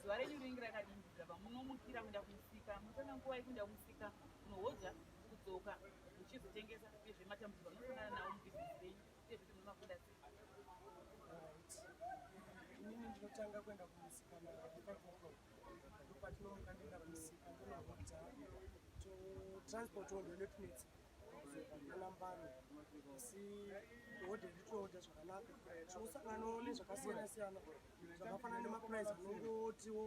zuva renyu rinenge rakadini bva munomukira kuenda kumusika munotora nguva yekuenda kumusika kunohodza kudzoka muchizotengesa uyezve matambudziko anosangana nawo mubhizinesi renyu uyezve kuti munomakunda sei inini ndinotanga kuenda kumusika naakakoko ndopatinomuka ndienda kumusika ndonohodza totransport wo ndolepnets anambano asi hodhe nditohodha zvakanaka tinosanganawo nezvakasiyana siyana zvakafanana nemaprice anongotiwo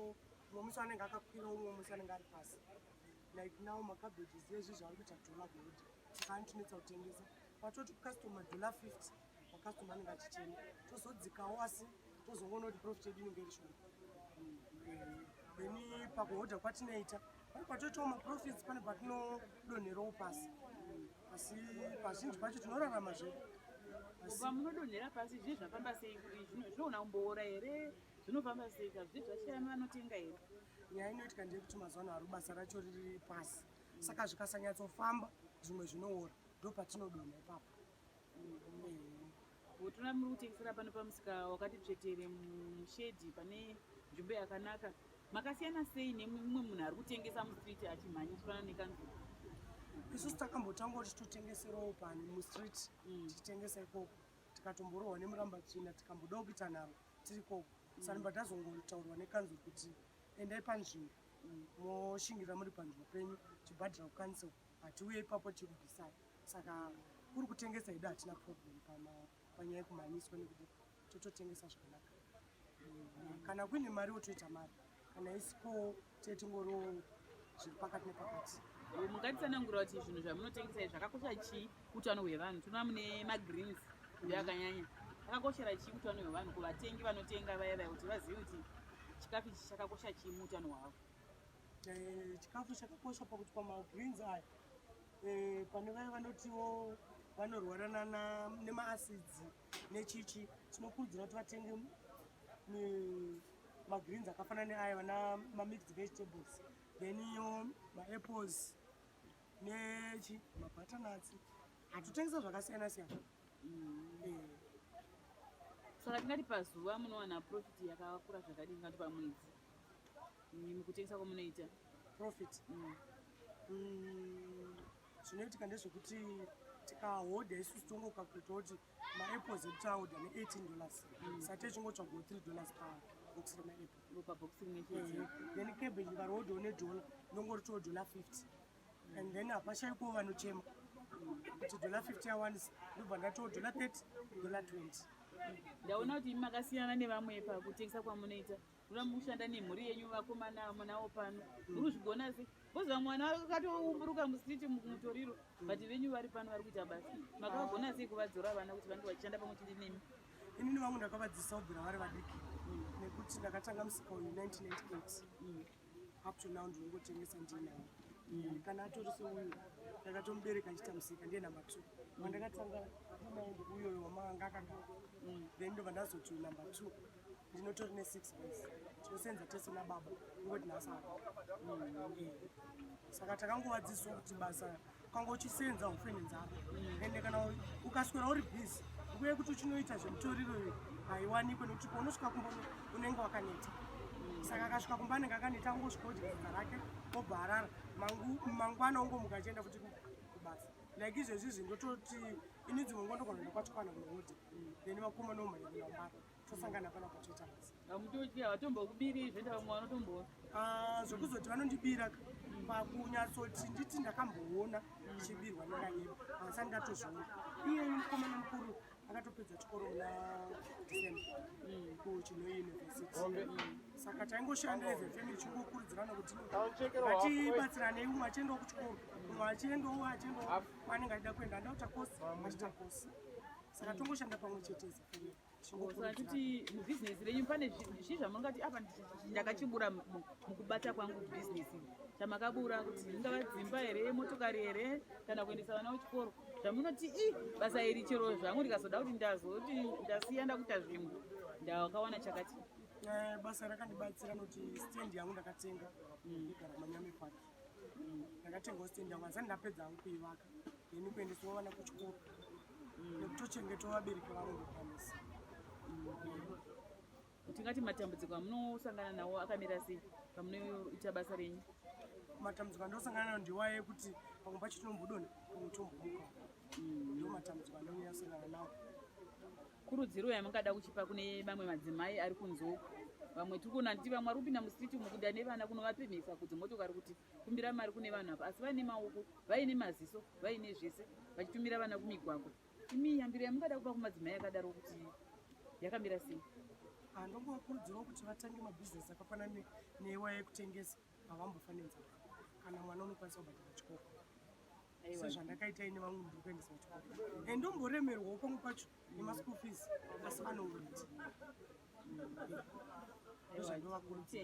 umwe musi anenge akakwira umwe musi anenge ari pasi like now macabages ezvi zvaari kuita dollar gold saka anotinetsa kutengesa patoti customer dollar 50 macustomer anenge achichena tozodzikawo asi tozongoona kuti profit yedu inenge iri shoma then pakuhodha kwatinoita Pane patoitawo maprofits pane patinodonherawo pasi asi pazhinji pacho tinorarama zvedu pamunodonhera pasi zviye zvafamba sei zvinoona kumboora here zvinofamba sei ka zviye zvashayami vanotenga here nyaya inoitika ndeyekuti mazuva ano hari basa racho riri pasi saka zvikasanyatsofamba zvimwe zvinoora ndopatinodonha ipapo mm -hmm. Bhotoro ramuri kutengesera pano pamusika wakati tsvetere mushedhi pane nzvimbo yakanaka makasiyana sei nemumwe munhu ari kutengesa mustreet achimhanya chifana nekanzuru isusu takambotanga kuti totengeserawo pani mustreet mm. tichitengesa ikoko tikatomborohwa nemuramba tsvina tikambodawo kuita nharo tiri koko mm. sanimba tazongotaurwa nekanzuru kuti endai panzvimbo mm. moshingira muri panzvimbo penyu chibhadhira kukanisel hatiuye ipapo chirubhisai saka kuri kutengesa hedu hatina problem panyaya yekumhanyiswa nekuti tototengesa zvakanaka mm, kana kuine mari wotoita mari kana isiko tee tingoriwo zviri pakati nepakati mungatitsanangura kuti zvinhu zvamunotengesa izvi zvakakosha chii utano hwevanhu tinoa mune magreens ndo akanyanya akakoshera chii utano hwevanhu kuvatengi vanotenga vaya vaya kuti vazive kuti chikafu ichi chakakosha chii muutano hwavo eh, chikafu chakakosha pakuti pamagreens aya Eh, pane vaya vanotiwo vanorwara nemaacids nechichi tinokurudzira kuti vatenge magreens akafanana neaya vana mamixed vegetables then iyo maapples nechi mabutternats hatutengesa zvakasiyana siyana mm. eh. saka tingati pazuva munowana profit yakakura zvakadii tingati pamwedzi mukutengesa kwamunoita profit mm. Mm, zvinoitika ndezvekuti tikahodha isusu tongokakuta kuti maapples ekuti ahodha ne18 dollars mm. sati echingotsvago 3 dollars pa box remaapple then cabbage varohodhawo nedollar ndongoritowo dollar 50 mm. and then hapashaikowo vanochema kuti dollar 50 yawanisa ndobva ndatowo dollar 30 dollar 20 ndaona kuti imi makasiyana nevamwe pakutengesa kwamunoita Kuda mushanda nemhuri yenyu vakomana amunawo pano. Muri kuzvigona sei? Koza mwana wako akatoumburuka musiti mutoriro but venyu vari pano vari kuita basa. Makagona sei kuvadzora vana kuti vange vachishanda pamwe chete nemi? Inini vangu ndakavadzisa kubvira vari vadiki nekuti ndakatanga musika uyu 1998 mm. up to now ndinongotengesa ndinawo mm. kana atori seuyu ndakatomubereka achiita musika ndiye number two mm. wandakatanga uyoyo wamanga akagara then ndobva ndazoti number two ndinotori nesix boys tinosenza tese nababa ingoti nasara mm, saka takangovadzidziswa kuti basa kwanga uchisenza ufe nenzara mm. ende kana ukaswera uri busy nguva yekuti uchinoita zvemutoriro iyo haiwanikwe nekuti paunosvika kumba unenge wakaneta mm. saka akasvika kumba anenge akaneta angosvika ujiaa rake obva arara mangwana ungomuka achienda futi kubasa like izvezvi izvi ndototi ini dzimwe ngo ndogona ndokwachikwana kunoodi then vakomana omhanyaaaa tosangana pana kutoita basa hamutotyi havatombokubirii zvenda vamwe vanotomboona ah, zvokuzoti vanondibira pakunyatsoti nditi ndakamboona ndichibirwa nekanyeba hasani ndatozviona iye mukomana mukuru akatopedza chikoro muna december mm. kuchinoi university mm. saka taingoshanda as a family chingokurudzirana kuti vatibatsirane umwe achiendawo kuchikoro umwe achiendawo achiendawo kwanenge achida kuenda ndautakosi achitakosi saka tongoshanda pamwe chete as a family kuti mubhizinesi renyu pane zvii zvamangati apa ndakachibura mukubata kwangu bhizinesi chamakabura kuti ingava dzimba here motokari here kana kuendesa vana kuchikoro zvamunoti i basa iri chero zvangu ndikazoda kuti ndazoti ndasiya ndakuita zvimwe ndakawana chakati eh, basa rakandibatsira noti stand yangu ndakatenga mm. igara manyame pake ndakatengawo stand yangu asati ndapedza hangu kuivaka then kuendesawo vana kuchikoro nekutochengetawo vabereki vavo ndokwanisa tingati matambudziko amunosangana nawo akamira sei pamunoita basa renyu matambudziko andinosangana nawo ndiwaye ekuti pamwe pacho tinombodona pamwe tombomuka mm. ndo matambudziko andinonyasangana nawo Kurudziro yamungada kuchipa kune mamwe madzimai ari kunze uku vamwe tiri kuona kuti vamwe ari kupinda musiti umu kuda nevana kunovapemhesa kuti motokari kuti kumbira mari kune vanhu apa asi vaine maoko vaine maziso vaine zvese vachitumira vana kumigwagwa imi yambiro yamungada kupa kumadzimai akadaro kuti yakamira sei anongovakurudzirawo kuti vatange mabhizinesi akafanana neiwaya yekutengesa havambofanenzaa kana mwana unokwanisa kubhadhara chikoko sezvandakaita ine vamwe ndiri kuendesa kuchikoro and ndomboremerwawo pamwe pacho nemaschool fees asi vanouriti ndozvandovakurudzira